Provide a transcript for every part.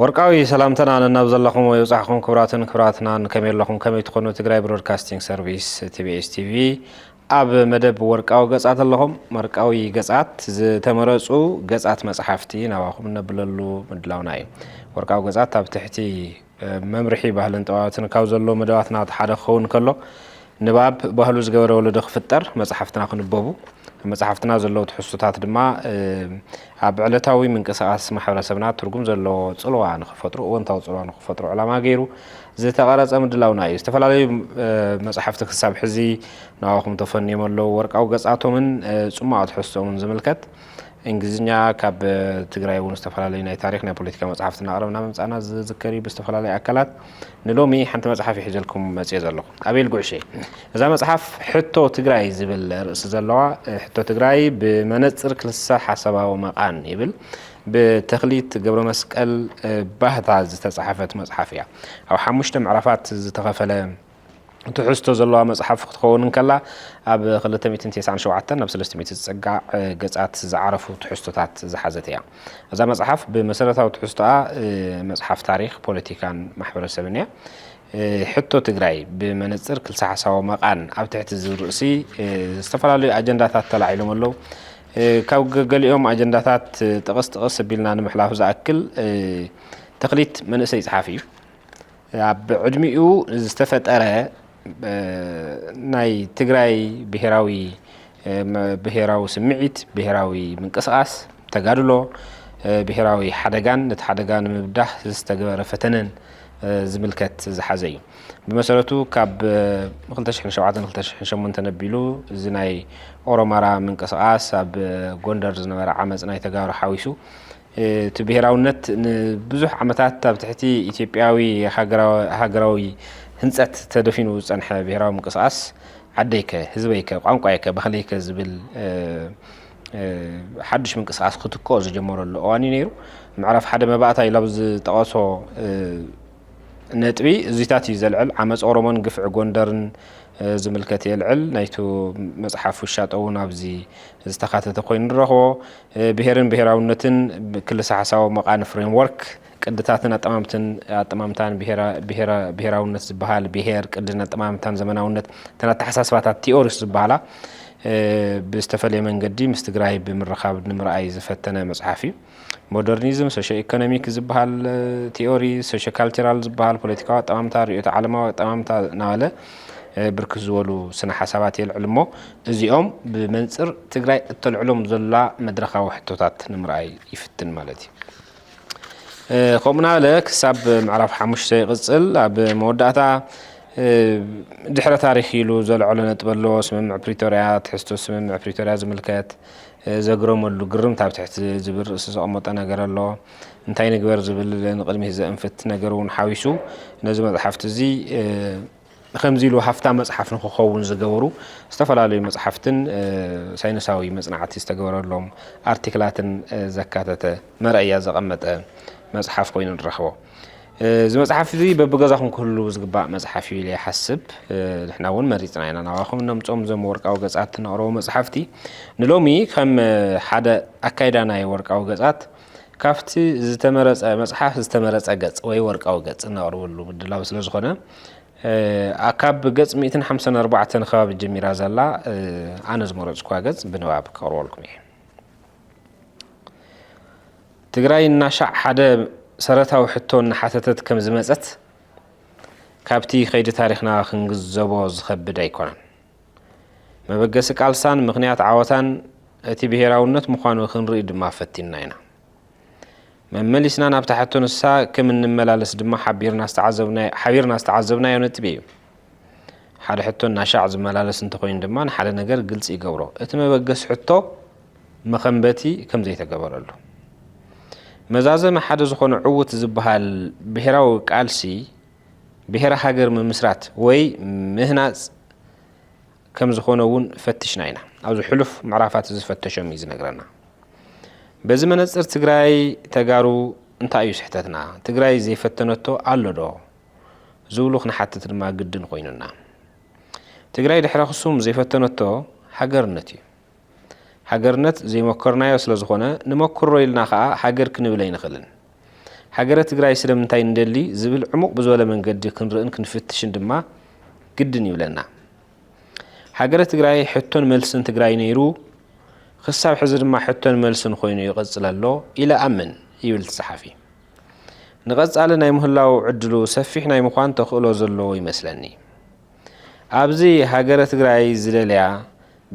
ወርቃዊ ሰላምተና ነናብ ዘለኹሞ ይብጻሕኹም ክብራትን ክብራትናን ከመይ ኣለኹም ከመይ ትኾኑ ትግራይ ብሮድካስቲንግ ሰርቪስ ቲቢኤስ ቲቪ ኣብ መደብ ወርቃዊ ገጻት ኣለኹም ወርቃዊ ገጻት ዝተመረጹ ገጻት መጽሓፍቲ ናባኹም እነብለሉ ምድላውና እዩ ወርቃዊ ገጻት ኣብ ትሕቲ መምርሒ ባህልን ጠባባትን ካብ ዘሎ መደባትና እቲ ሓደ ክኸውን ከሎ ንባብ ባህሉ ዝገበረ ወለዶ ክፍጠር፣ መጽሓፍትና ክንበቡ፣ ኣብ መጽሓፍትና ዘለዉ ትሕዝቶታት ድማ ኣብ ዕለታዊ ምንቅስቓስ ማሕበረሰብና ትርጉም ዘለዎ ጽልዋ ንኽፈጥሩ፣ እወንታዊ ጽልዋ ንኽፈጥሩ ዕላማ ገይሩ ዝተቐረጸ ምድላውና እዩ። ዝተፈላለዩ መጽሓፍቲ ክሳብ ሕዚ ንኣኹም ተፈንዮም ኣለዉ። ወርቃዊ ገጻቶምን ጽሟቕ ትሕዝቶኦምን ዝምልከት እንግሊዝኛ ካብ ትግራይ እውን ዝተፈላለዩ ናይ ታሪኽ ናይ ፖለቲካ መጽሓፍቲ እናቕረብና ምምጻእና ዝዝከር እዩ። ብዝተፈላለዩ ኣካላት ንሎሚ ሓንቲ መጽሓፍ እየ ሒዘልኩም መጽየ ዘለኹ። ኣቤል ጉዕሽ እየ። እዛ መጽሓፍ ሕቶ ትግራይ ዝብል ርእሲ ዘለዋ፣ ሕቶ ትግራይ ብመነጽር ክልሰ ሓሳባዊ መቓን ይብል ብተኽሊት ገብረመስቀል ባህታ ዝተጻሕፈት መጽሓፍ እያ። ኣብ ሓሙሽተ ምዕራፋት ዝተኸፈለ ትሕዝቶ ዘለዋ መጽሓፍ ክትኸውን እንከላ፣ ኣብ ክልተ ሚእትን ቴስዓን ሸውዓተን ናብ ሰለስተ ሚእቲ ዝጸጋዕ ገጻት ዝዓረፉ ትሕዝቶታት ዝሓዘት እያ። እዛ መጽሓፍ ብመሰረታዊ ትሕዝቶኣ መጽሓፍ ታሪኽ፣ ፖለቲካን ማሕበረሰብን እያ። ሕቶ ትግራይ ብመነጽር ክልሰ ሓሳቦ መቓን ኣብ ትሕቲ ዝብል ርእሲ ዝተፈላለዩ ኣጀንዳታት ተላዒሎም ኣለዉ። ካብ ገሊኦም ኣጀንዳታት ጥቕስ ጥቕስ ኣቢልና ንምሕላፍ ዝኣክል ተኽሊት መንእሰይ ጸሓፊ እዩ። ኣብ ዕድሚኡ ዝተፈጠረ ናይ ትግራይ ብሄራዊ ብሄራዊ ስምዒት፣ ብሄራዊ ምንቅስቓስ፣ ተጋድሎ፣ ብሄራዊ ሓደጋን ነቲ ሓደጋ ንምብዳህ ዝተገበረ ፈተነን ዝምልከት ዝሓዘ እዩ። ብመሰረቱ ካብ 2007 2008 ኣቢሉ እዚ ናይ ኦሮማራ ምንቅስቓስ ኣብ ጎንደር ዝነበረ ዓመፅ ናይ ተጋሩ ሓዊሱ እቲ ብሄራውነት ንብዙሕ ዓመታት ኣብ ትሕቲ ኢትዮጵያዊ ሃገራዊ ህንፀት ተደፊኑ ዝፀንሐ ብሄራዊ ምንቅስቓስ ዓደይከ፣ ህዝበይከ፣ ቋንቋይከ፣ ባህለይከ ዝብል ሓዱሽ ምንቅስቓስ ክትክኦ ዝጀመረሉ እዋን እዩ ነይሩ። ምዕራፍ ሓደ መባእታ ኢሉ ኣብ ዝጠቐሶ ነጥቢ እዙይታት እዩ ዘልዕል። ዓመፅ ኦሮሞን ግፍዒ ጎንደርን ዝምልከት የልዕል። ናይቱ መፅሓፍ ውሻጠ እውን ኣብዚ ዝተካተተ ኮይኑ ንረኽቦ። ብሄርን ብሄራውነትን ክልሰ ሓሳዊ መቃን ፍሬምወርክ ቅድታትን ኣጠማምትን ኣጠማምታን ብሄራውነት ዝበሃል ብሄር ቅድን ኣጠማምታን ዘመናውነት እተን ኣተሓሳስባታት ቲኦሪስ ዝበሃላ ብዝተፈለየ መንገዲ ምስ ትግራይ ብምርኻብ ንምርኣይ ዝፈተነ መፅሓፍ እዩ። ሞደርኒዝም፣ ሶሾ-ኢኮኖሚክ ዝበሃል ቲዮሪ፣ ሶሾ-ካልቸራል ዝበሃል ፖለቲካዊ ኣጠማምታ፣ ርእዮተ ዓለማዊ ኣጠማምታ እናበለ ብርክት ዝበሉ ስነ ሓሳባት የልዕል እሞ እዚኦም ብመንፅር ትግራይ እተልዕሎም ዘላ መድረኻዊ ሕቶታት ንምርኣይ ይፍትን ማለት እዩ። ከምኡ እናበለ ክሳብ ምዕራፍ ሓሙሽተ ይቕፅል። ኣብ መወዳእታ ድሕረ ታሪክ ኢሉ ዘልዐሎ ነጥቢ ኣሎ። ስምምዕ ፕሪቶርያ፣ ትሕዝቶ ስምምዕ ፕሪቶርያ ዝምልከት ዘግረመሉ ግርምት ኣብ ትሕቲ ዝብል ርእሲ ዘቐመጦ ነገር ኣሎ። እንታይ ንግበር ዝብል ንቕድሚት ዘእንፍት ነገር እውን ሓዊሱ ነዚ መጽሓፍቲ እዚ ከምዚ ኢሉ ሃፍታም መጽሓፍ ንክኸውን ዝገበሩ ዝተፈላለዩ መጽሓፍትን ሳይንሳዊ መጽናዕቲ ዝተገበረሎም ኣርቲክላትን ዘካተተ መርኣያ ዘቐመጠ መጽሓፍ ኮይኑ ንረኽቦ። እዚ መጽሓፍ እዚ በብገዛኹም ክህሉ ዝግባእ መጽሓፍ እዩ ኢለ ይሓስብ ንሕና እውን መሪጽና ኢና ናባኹም እነምጾም እዞም ወርቃዊ ገጻት ነቕረቡ መጽሓፍቲ ንሎሚ ከም ሓደ ኣካይዳ ናይ ወርቃዊ ገጻት ካብቲ ዝተመረጸ መጽሓፍ ዝተመረጸ ገጽ ወይ ወርቃዊ ገጽ እነቕርበሉ ምድላው ስለ ዝኾነ ካብ ገጽ 154 ከባቢ ጀሚራ ዘላ ኣነ ዝመረጽኳ ገጽ ብንባብ ከቕርበልኩም እየ ትግራይ እናሻዕ ሓደ ሰረታዊ ሕቶ እናሓተተት ከም ዝመፀት ካብቲ ከይዲ ታሪኽና ክንግዘቦ ዝኸብድ ኣይኮነን። መበገሲ ቃልሳን ምክንያት ዓወታን እቲ ብሄራውነት ምዃኑ ክንርኢ ድማ ፈቲንና ኢና። መመሊስና ናብታ ሕቶ ንሳ ከም እንመላለስ ድማ ሓቢርና ዝተዓዘብናዮ ነጥቢ እዩ። ሓደ ሕቶ እናሻዕ ዝመላለስ እንተኾይኑ ድማ ንሓደ ነገር ግልፂ ይገብሮ፣ እቲ መበገሲ ሕቶ መኸንበቲ ከም ዘይተገበረሉ። መዛዘሚ ሓደ ዝኾነ ዕውት ዝበሃል ብሄራዊ ቃልሲ ብሄረ ሃገር ምምስራት ወይ ምህናፅ ከም ዝኾነ እውን ፈትሽና ኢና። ኣብዚ ሕሉፍ ምዕራፋት እዚ ዝፈተሾም እዩ ዝነግረና። በዚ መነፅር ትግራይ ተጋሩ እንታይ እዩ ስሕተትና? ትግራይ ዘይፈተነቶ ኣሎ ዶ? ዝብሉ ክንሓትት ድማ ግድን ኾይኑና። ትግራይ ድሕረ ክሱም ዘይፈተነቶ ሃገርነት እዩ። ሃገርነት ዘይሞከርናዮ ስለዝኾነ ንመኩሮ ኢልና ከኣ ሃገር ክንብል ኣይንኽልን። ሃገረ ትግራይ ስለምንታይ ንደሊ ዝብል ዕሙቕ ብዝበለ መንገዲ ክንርእን ክንፍትሽን ድማ ግድን ይብለና። ሃገረ ትግራይ ሕቶን መልስን ትግራይ ነይሩ፣ ክሳብ ሕዚ ድማ ሕቶን መልስን ኮይኑ ይቕጽል ኣሎ ኢለ እኣምን ይብል እቲ ጸሓፊ። ንቐጻሊ ናይ ምህላው ዕድሉ ሰፊሕ ናይ ምዃን ተኽእሎ ዘለዎ ይመስለኒ። ኣብዚ ሃገረ ትግራይ ዝደልያ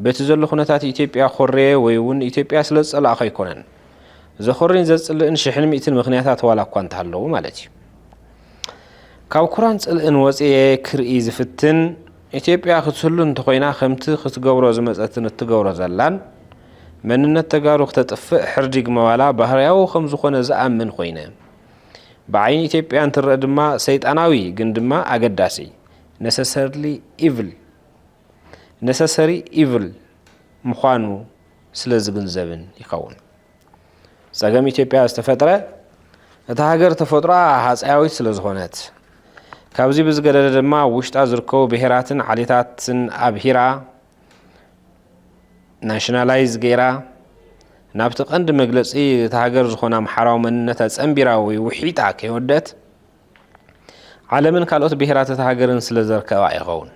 በቲ ዘሎ ኩነታት ኢትዮጵያ ኮርየ ወይ እውን ኢትዮጵያ ስለ ዝጸላእኹ ኣይኮነን። ዘኾርይን ዘጽልእን ሽሕን ሚእትን ምክንያታት ዋላ እኳ እንተሃለዉ ማለት እዩ። ካብ ኩራን ጽልእን ወጽየ ክርኢ ዝፍትን፣ ኢትዮጵያ ክትህሉ እንተኾይና ከምቲ ክትገብሮ ዝመጸትን እትገብሮ ዘላን፣ መንነት ተጋሩ ክተጥፍእ ሕርዲግ ምባላ ባህርያዊ ከም ዝኾነ ዝኣምን ኮይነ። ብዓይኒ ኢትዮጵያ እንትረእ ድማ ሰይጣናዊ ግን ድማ ኣገዳሲ፣ Necessarily Evil፣ ነሰሰሪ ኢቭል ምዃኑ ስለ ዝግንዘብን ይኸውን። ጸገም ኢትዮጵያ ዝተፈጥረ እታ ሃገር ተፈጥሮኣ ሃጸያዊት ስለ ዝኾነት ካብዚ ብዝገደደ ድማ ኣብ ውሽጣ ዝርከቡ ብሄራትን ዓሌታትን ኣብሂራ ናሽናላይዝ ገይራ ናብቲ ቀንዲ መግለጺ እታ ሃገር ዝኾነ ኣምሓራዊ መንነት ኣጸንቢራ ወይ ውሒጣ ከይወደት ዓለምን ካልኦት ብሄራት እታ ሃገርን ስለ ዘርከባ ይኸውን።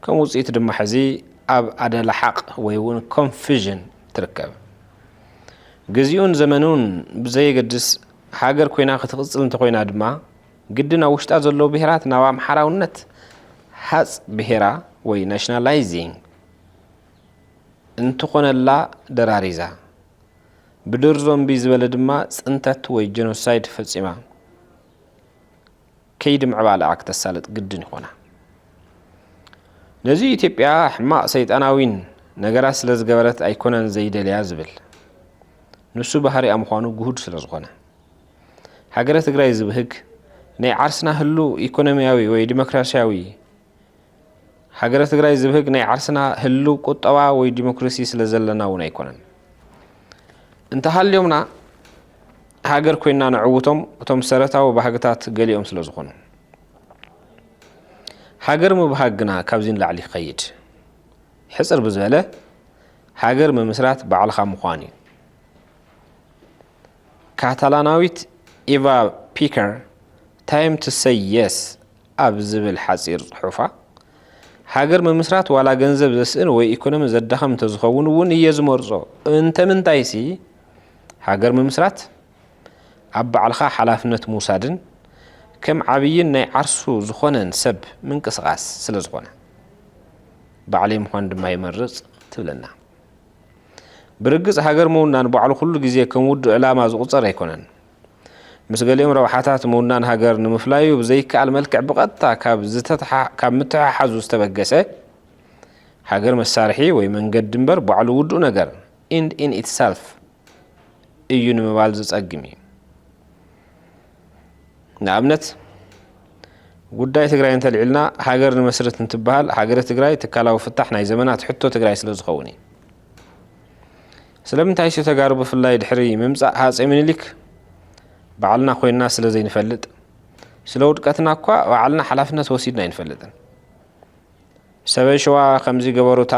ከም ውፅኢቱ ድማ ሕዚ ኣብ ኣደላሓቕ ወይ እውን ኮንፊዥን ትርከብ። ግዚኡን ዘመኑን ብዘየገድስ ሃገር ኮይና ክትቕፅል እንተኾይና ድማ ግድን ኣብ ውሽጣ ዘለዉ ብሄራት ናብ ኣምሓራውነት ሃፅ ብሄራ ወይ ናሽናላይዚንግ እንትኾነላ ደራሪዛ ብድርዞምቢ ዝበለ ድማ ፅንተት ወይ ጀኖሳይድ ፈፂማ ከይዲ ምዕባለኣ ክተሳልጥ ግድን ይኾና። ነዚ እዩ ኢትዮጵያ ሕማቕ ሰይጣናዊን ነገራት ስለ ዝገበረት ኣይኮነን ዘይደልያ ዝብል። ንሱ ባህሪኣ ምዃኑ ግሁድ ስለ ዝኾነ። ሃገረ ትግራይ ዝብህግ ናይ ዓርስና ህሉው ኢኮኖሚያዊ ወይ ዲሞክራሲያዊ ሃገረ ትግራይ ዝብህግ ናይ ዓርስና ህልው ቁጠባ ወይ ዲሞክራሲ ስለ ዘለና እውን ኣይኮነን። እንተሃልዮምና ሃገር ኮይና ነዕውቶም እቶም ሰረታዊ ባህግታት ገሊኦም ስለ ዝኾኑ። ሃገር ምብሃግ ግና ካብዚ ንላዕሊ ይኸይድ። ሕፅር ብዝበለ ሃገር ምምስራት ባዕልኻ ምዃን እዩ። ካታላናዊት ኢቫ ፒከር ታይም ቱ ሰይ የስ ኣብ ዝብል ሓጺር ጽሑፋ፣ ሃገር ምምስራት ዋላ ገንዘብ ዘስእን ወይ ኢኮኖሚ ዘዳኽም እንተዝኸውን እውን እየ ዝመርጾ፣ እንተምንታይሲ ሃገር ምምስራት ኣብ ባዕልኻ ሓላፍነት ምውሳድን ከም ዓብይን ናይ ዓርሱ ዝኾነን ሰብ ምንቅስቓስ ስለዝኾነ ባዕለይ ምዃን ድማ ይመርጽ ትብለና። ብርግጽ ሃገር ምውናን ባዕሉ ኩሉ ግዜ ከም ውዱእ ዕላማ ዝቑጸር ኣይኮነን። ምስ ገሊኦም ረብሓታት ምውናን ሃገር ንምፍላዩ ብዘይከኣል መልክዕ ብቐጥታ ካብ ምትሕሓዙ ዝተበገሰ ሃገር መሳርሒ ወይ መንገዲ እምበር ባዕሉ ውዱእ ነገር ኢንድ ኢን ኢትሰልፍ እዩ ንምባል ዝጸግም እዩ። ንኣብነት ጉዳይ ትግራይ እንተልዒልና ሃገር ንመስርት እንትበሃል ሃገረ ትግራይ ትካላዊ ፍታሕ ናይ ዘመናት ሕቶ ትግራይ ስለዝኸውን እዩ። ስለምንታይ ኢሱ ተጋሩ ብፍላይ ድሕሪ ምምጻእ ሃጼ ምኒሊክ ባዕልና ኮይንና ስለ ዘይንፈልጥ ስለ ውድቀትና እኳ ባዕልና ሓላፍነት ወሲድና ኣይንፈልጥን ሰበይ ሸዋ ከምዚ ገበሩታ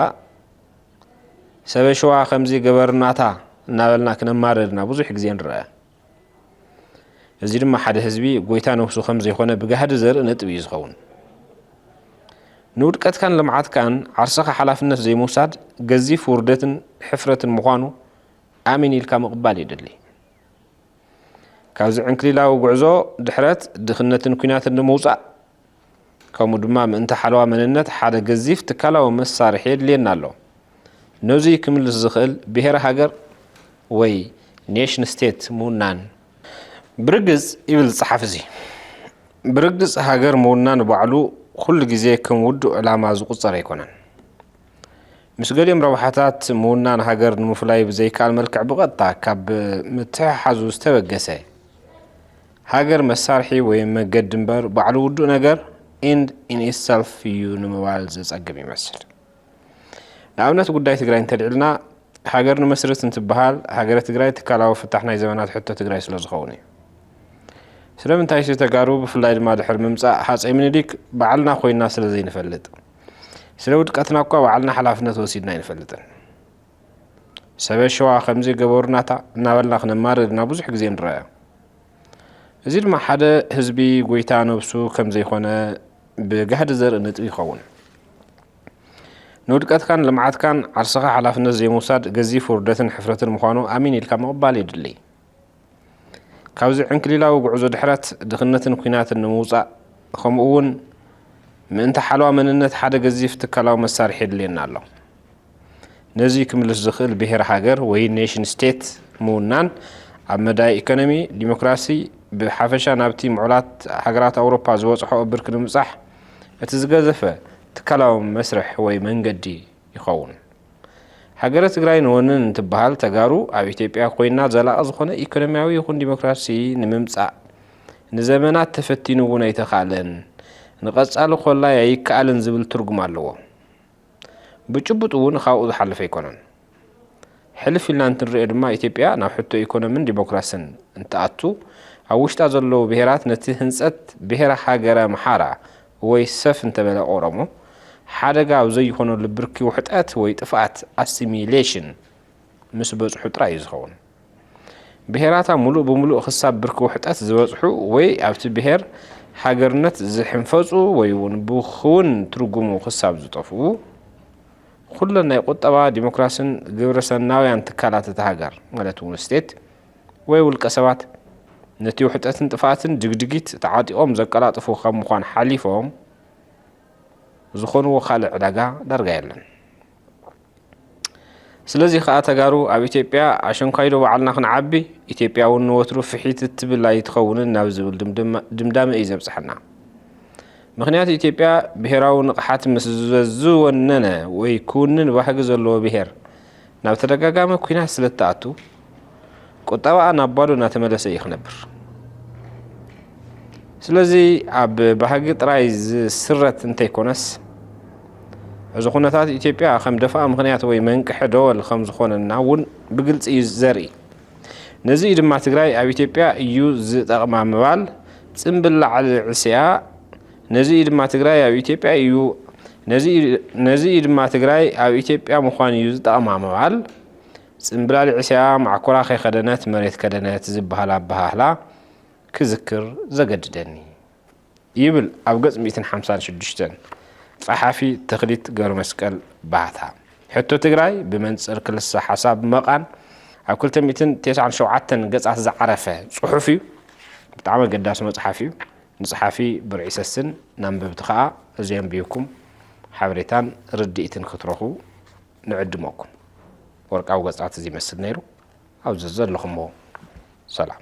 ሰበይ ሸዋ ከምዚ ገበርናታ እናበልና ክነማርር ኢና ብዙሕ ግዜ ንረኣ እዚ ድማ ሓደ ህዝቢ ጎይታ ነብሱ ከም ዘይኮነ ብጋህዲ ዘርኢ ነጥቢ እዩ ዝኸውን። ንውድቀትካን ልምዓትካን ዓርስኻ ሓላፍነት ዘይምውሳድ ገዚፍ ውርደትን ሕፍረትን ምዃኑ ኣሜን ኢልካ ምቕባል የድሊ። ካብዚ ዕንክሊላዊ ጉዕዞ ድሕረት፣ ድኽነትን ኲናትን ንምውጻእ ከምኡ ድማ ምእንቲ ሓለዋ መንነት ሓደ ገዚፍ ትካላዊ መሳርሒ የድልየና ኣሎ። ነዙይ ክምልስ ዝኽእል ብሄረ ሃገር ወይ ኔሽን ስቴት ምውናን። ብርግጽ ይብል ጸሓፊ እዙይ፣ ብርግጽ ሃገር ምውናን ባዕሉ ኩሉ ግዜ ከም ውዱእ ዕላማ ዝቑጸር ኣይኮነን። ምስ ገሊኦም ረብሓታት ምውናን ሃገር ንምፍላይ ብዘይከኣል መልክዕ ብቐጥታ ካብ ምትሕሓዙ ዝተበገሰ ሃገር መሳርሒ ወይ መገዲ እምበር ባዕሉ ውዱእ ነገር፣ End in itself፣ እዩ ንምባል ዘጸግም ይመስል። ንኣብነት ጉዳይ ትግራይ እንተልዒልና፣ ሃገር ንመስርት እንትበሃል ሃገረ ትግራይ ትካላዊ ፍታሕ ናይ ዘመናት ሕቶ ትግራይ ስለዝኸውን እዩ። ስለምንታይሲ ተጋሩ ብፍላይ ድማ ድሕሪ ምምጻእ ሃጸይ ምኒሊክ ባዕልና ኮይንና ስለዘይንፈልጥ። ስለ ውድቀትናኳ ባዕልና ሓላፍነት ወሲድና ኣይንፈልጥን። ሰበ ሸዋ ከምዚ ገበሩናታ እናበልና ክነማርር ኢና ብዙሕ ግዜ ንረኣ። እዚ ድማ ሓደ ህዝቢ ጎይታ ነብሱ ከም ዘይኮነ ብጋህዲ ዘርኢ ነጥቢ ይኸውን። ንውድቀትካን ልምዓትካን ዓርስኻ ሓላፍነት ዘይምውሳድ ገዚፍ ውርደትን ሕፍረትን ምዃኑ ኣሚን ኢልካ ምቕባል የድሊ። ካብዚ ዕንክሊላዊ ጉዕዞ ድሕረት ድኽነትን ኩናትን ንምውጻእ ከምኡ እውን ምእንቲ ሓለዋ መንነት ሓደ ገዚፍ ትካላዊ መሳርሒ የድልየና ኣሎ። ነዚ ክምልስ ዝኽእል ብሄር ሃገር ወይ ኔሽን ስቴት ምውናን ኣብ መዳይ ኢኮኖሚ፣ ዲሞክራሲ ብሓፈሻ ናብቲ ምዑላት ሃገራት ኣውሮፓ ዝበጽሖኦ ብርኪ ንምብጻሕ እቲ ዝገዘፈ ትካላዊ መስርሕ ወይ መንገዲ ይኸውን። ሃገረ ትግራይ ንወንን እንትበሃል ተጋሩ ኣብ ኢትዮጵያ ኮይና ዘላቒ ዝኾነ ኢኮኖሚያዊ ይኹን ዲሞክራሲ ንምምፃእ ንዘመናት ተፈቲኑ እውን ኣይተኻእለን፣ ንቐፃሊ ኮላይ ኣይከኣልን ዝብል ትርጉም ኣለዎ። ብጭቡጥ እውን ኻብኡ ዝሓለፈ ኣይኮነን። ሕልፍ ኢልና እንትንሪኦ ድማ ኢትዮጵያ ናብ ሕቶ ኢኮኖምን ዲሞክራስን እንትኣቱ ኣብ ውሽጣ ዘለዉ ብሄራት ነቲ ህንፀት ብሄረ ሃገረ ኣምሓራ ወይ ሰፍ እንተበለ ኦሮሞ ሓደጋ ኣብ ዘይኾነሉ ብርኪ ውሕጠት ወይ ጥፍኣት፣ ኣሲሚሌሽን፣ ምስ በጽሑ ጥራይ እዩ ዝኸውን። ብሄራታ ምሉእ ብምሉእ ክሳብ ብርኪ ውሕጠት ዝበጽሑ ወይ ኣብቲ ብሄር ሃገርነት ዝሕንፈጹ ወይ'ውን ብክውን ትርጉሙ ክሳብ ዝጠፍኡ፣ ኩለን ናይ ቁጠባ፣ ዲሞክራሲን ግብረሰናውያን ትካላት እታ ሃገር፣ ማለት'ውን ስቴት፣ ወይ ውልቀ ሰባት ነቲ ውሕጠትን ጥፍኣትን ድግድጊት ተዓጢቖም ዘቀላጥፉ ካብ ምዃን ሓሊፎም ዝኾንዎ ካልእ ዕዳጋ ዳርጋ የለን። ስለዚ ከኣ ተጋሩ ኣብ ኢትዮጵያ ኣሸንኳይዶ በዓልና ክንዓቢ ኢትዮጵያ እውን ንወትሩ ፍሒት እትብል ኣይትኸውንን ናብ ዝብል ድምዳመ እዩ ዘብጽሐና። ምክንያቱ ኢትዮጵያ ብሄራዊ ንቕሓት ምስ ዝወነነ ወይ ክውንን ባህጊ ዘለዎ ብሄር ናብ ተደጋጋሚ ኩናት ስለ እትኣቱ ቁጠባኣ ናብ ባዶ እናተመለሰ እዩ ክነብር። ስለዚ ኣብ ባህጊ ጥራይ ዝስረት እንተይኮነስ እዚ ኩነታት ኢትዮጵያ ከም ደፋእ ምክንያት ወይ መንቅሒ ደወል ከም ዝኾነና እውን ብግልፂ እዩ ዘርኢ። ነዚ እዩ ድማ ትግራይ ኣብ ኢትዮጵያ እዩ ዝጠቕማ ምባል ፅምብል ላዕሊ ዕሲኣ ነዚ እዩ ድማ ትግራይ ኣብ ኢትዮጵያ እዩ ነዚ እዩ ድማ ትግራይ ኣብ ኢትዮጵያ ምዃን እዩ ዝጠቕማ ምባል ጽምብላሊዕስያ ማዕኮራ ከይከደነት መሬት ከደነት ዝበሃል ኣበሃህላ ክዝክር ዘገድደኒ ይብል ኣብ ገጽ ሚእትን ሓምሳን ሽዱሽተን ጸሓፊ ተኽሊት ገብረመስቀል ባህታ። ሕቶ ትግራይ ብመንጽር ክልሰ ሓሳብ መቓን ኣብ ክልተ ሚእትን ቴስዓን ሸውዓተን ገጻት ዝዓረፈ ጽሑፍ እዩ። ብጣዕሚ ኣገዳሲ መጽሓፍ እዩ። ንጸሓፊ ብርዒ ሰስን ንኣንበብቲ ከኣ እዚ ኣንቢብኩም ሓበሬታን ርድኢትን ክትረኽቡ ንዕድመኩም። ወርቃዊ ገጻት እዚ ይመስል ነይሩ። ኣብ ዘዘለኹሞ ሰላም።